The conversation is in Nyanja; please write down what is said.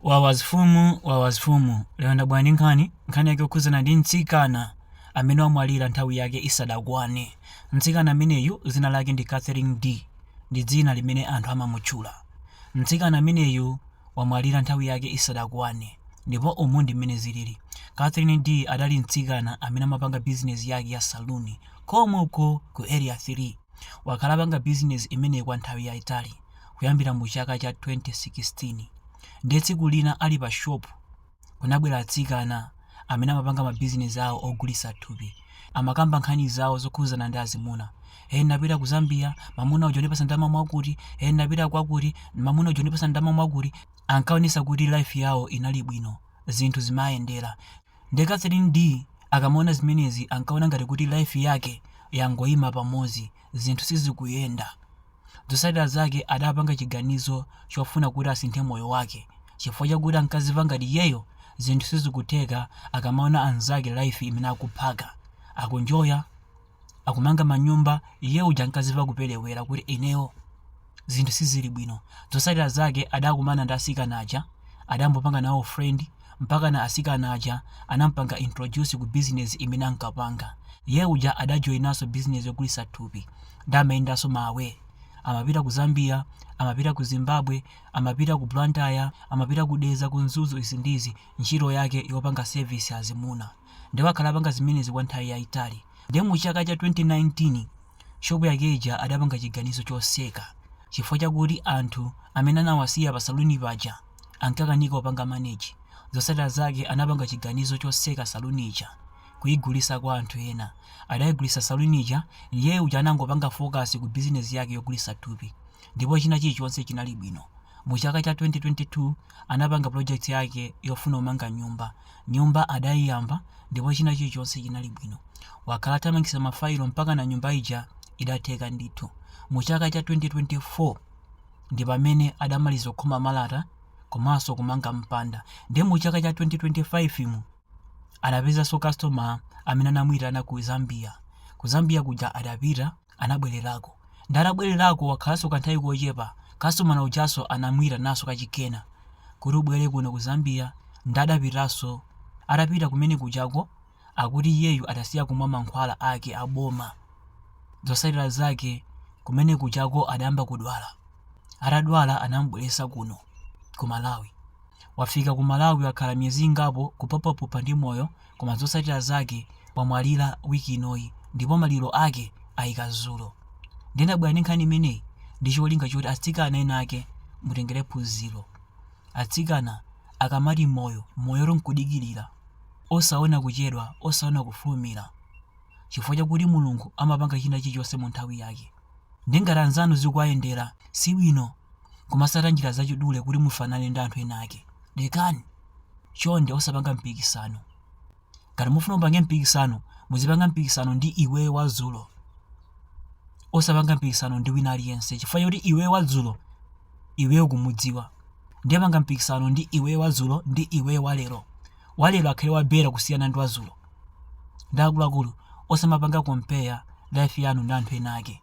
Wawa zimfumu wawa zimfumu Lero ndabwera ndi nkhani, nkhani yake yokhudzana ndi mtsikana amene wamwalira nthawi yake isadakwane. Mtsikana ameneyu dzina lake ndi Catherine D. ndi dzina limene anthu amamutchula. Mtsikana ameneyu wamwalira nthawi yake isadakwane ndipo umu ndi mmene zilili. Catherine D adali mtsikana amene amapanga bizinezi yake ya saloon komko ku Area 3. Wakhala apanga bizinezi imeneyi kwa nthawi yaitali. kuyambira mu chaka cha 2016 ndiye tsiku lina ali pa shop kunabwera atsikana amene amapanga mabizinesi awo ogulisa thupi amakamba nkhani zawo zokhuzana ndi azimuna e napita ku zambia mamuna uja anandipasa ndama mwakuti e napita kwakuti mamuna uja ndipasa ndama mwakuti ankaonesa kuti life yawo inali bwino zinthu zimayendera nde catherine d akamaona zimenezi ankaona ngati kuti life yake yangoyima pamodzi zinthu sizikuyenda Zotsatira zake adapanga chiganizo chofuna kuti asinthe moyo wake chifukwa chakuti ankazimva ngati iyeyo zinthu sizikutheka akamaona anzake life imene akuphaka, akunjoya, akumanga manyumba iye uja ankazimva kupelewera kuti ineyo zinthu sizili bwino. Zotsatira zake adakumana ndi asikana aja adambopanga nawo friend. mpakana asikana aja anampanga introduce ku business imene ankapanga. Iye uja adajoyinaso business yogulisa thupi nde amayendaso ma away. Amapita ku Zambia, amapita ku Zimbabwe, amapita ku Blantyre, amapita ku Dedza ku Mzuzu izi ndi izi ntchito yake yopanga service azimuna. Nde wakhala apanga zimenezi kwa nthawi yaitali. Nde mu chaka cha 2019 shop yake ija adapanga chiganizo choseka chifukwa chakuti anthu amene anawasiya pa saloon paja, ankakanika kupanga manage, zotsatira zake anapanga chiganizo chotseka saloon ija kuigulitsa kwa anthu ena. Adaigulitsa saloon ija iye uja anangopanga focus ku business yake yogulitsa thupi ndipo china chilichonse chinali bwino. Mu chaka cha 2022 anapanga project yake yofuna kumanga nyumba, nyumba adaiyamba ndipo china chilichonse chinali bwino. Wakhala athamangitsa ma file mpakana nyumba ija idatheka ndithu mu chaka cha 2024. ndi pamene adamaliza kukhoma malata komanso kumanga mpanda ndiye mu chaka cha 2025 mu adapezanso customer amene anamuyitana ku Zambia ku Zambia kuja adapita anabwererako ndi atabwererako wakhalanso kanthawi kochepa customer ujanso anamuyitananso kachikena kuti ubwere kuno ku Zambia ndi adapitanso atapita kumene kujako Akuti iyeyu adasiya kumwa mankhwala ake a boma. Zotsatira zake kumene kujako adayamba kudwala. Atadwala anamubweretsa kuno ku Malawi. Wafika ku Malawi wakhala miyezi ingapo kupuphaphupha ndi moyo koma zotsatira zake wamwalira week inoyi ndipo maliro ake aika dzulo. Ndinabwera ndi nkhani imeneyi ndi cholinga choti atsikana ena ake mutengere phunziro. Atsikana akamati moyo, moyotu n'kudikirira. Osaona kuchedwa, osaona kufulumira, chifukwa chakuti Mulungu amapanga china chilichonse mu nthawi yake. Nde ngati anzanu zikuwayendera, si bwino kumatsata njira zachidule kuti mufanane ndi anthu ena ake. Lekani! Chonde osapanga mpikisano. Ngati mufuna mupange mpikisano, muzipanga mpikisano ndi iweyo wa dzulo. Osapanga mpikisano ndi wina aliyense chifukwa choti iweyo wa dzulo, iweyo ukumudziwa. Nde panga mpikisano ndi iweyo wa dzulo ndi iweyo wa lero. walero akhale wa better kusiyana ndi wa dzulo nde akuluakulu osamapanga compare life yanu ndi anthu ena ake.